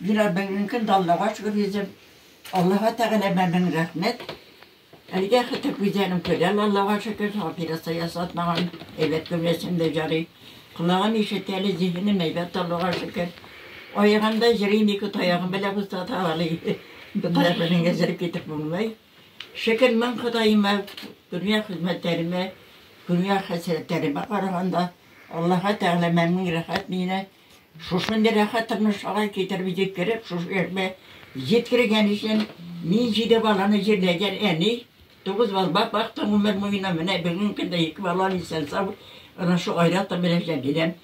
Бирә белгән көн даллага чыгып йөзеп, Аллаһыга Тәгаләмә мең рәхмәт. Әлегә хәтта күзләрем төгәл, Аллаһыга шөкер, операция ясатмаган, әйбәт күрәсем дә ярый. Колагым ишетә әле, зиһенем әйбәт, Аллаһыга шөкер. Аягымда йөрим, ике таягым белән бусата алыйм. Бер таяк белән генә йөреп китеп булмый. Шөкер мең Ходаема, дөнья хезмәтләремә, дөнья хәсрәтләремә караганда, Аллаһыга Тәгаләмә мең рәхәт мине Шушындый рәхәт тормышка китереп җиткереп, шушы яшьмә җиткергән өчен мин җиде баланы җирләгән әни, тугыз балбак бакты гомер буена, менә бүгенге көндә ике балам исән-сау, әнә шул Айратым белән Җәмиләм.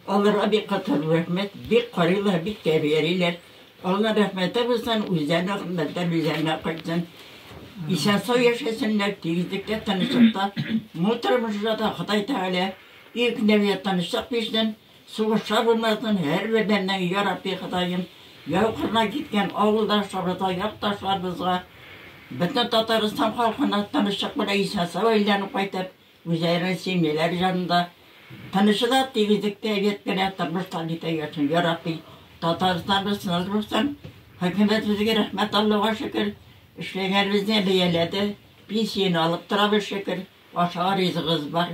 Аларга бик каты рәхмәт, бик карыйлар, бик тәрбиялиләр. Алланың рәхмәте булсын, үзләренә хезмәтләр үзләренә кайтсын. Исән-сау яшәсеннәр, тигезлектә, тынычлыкта. Бу тормышта да Ходай Тәгалә иркенләп ятанычлык бирсен. Сугышта булмасын һәр бердәннең Ярабби Ходаем яу кырына киткән авылдашларыбызга, якташларыбызга, бөтен Татарстан халкына тынычлык белән исән-сау әйләнеп кайтып, үзләренең семьялары җанында тынычлык, тигезлектә, әйбәт кенә тормышлар итә яшәсен, Ярабби. Татарстаныбыз тыныч булсын. Хөкүмәтебезгә рәхмәт, Аллага шөкер, эшләгәнебезне бәяләде, пенсияне алып торабыз, шөкер, ашарга ризыгыбыз бар.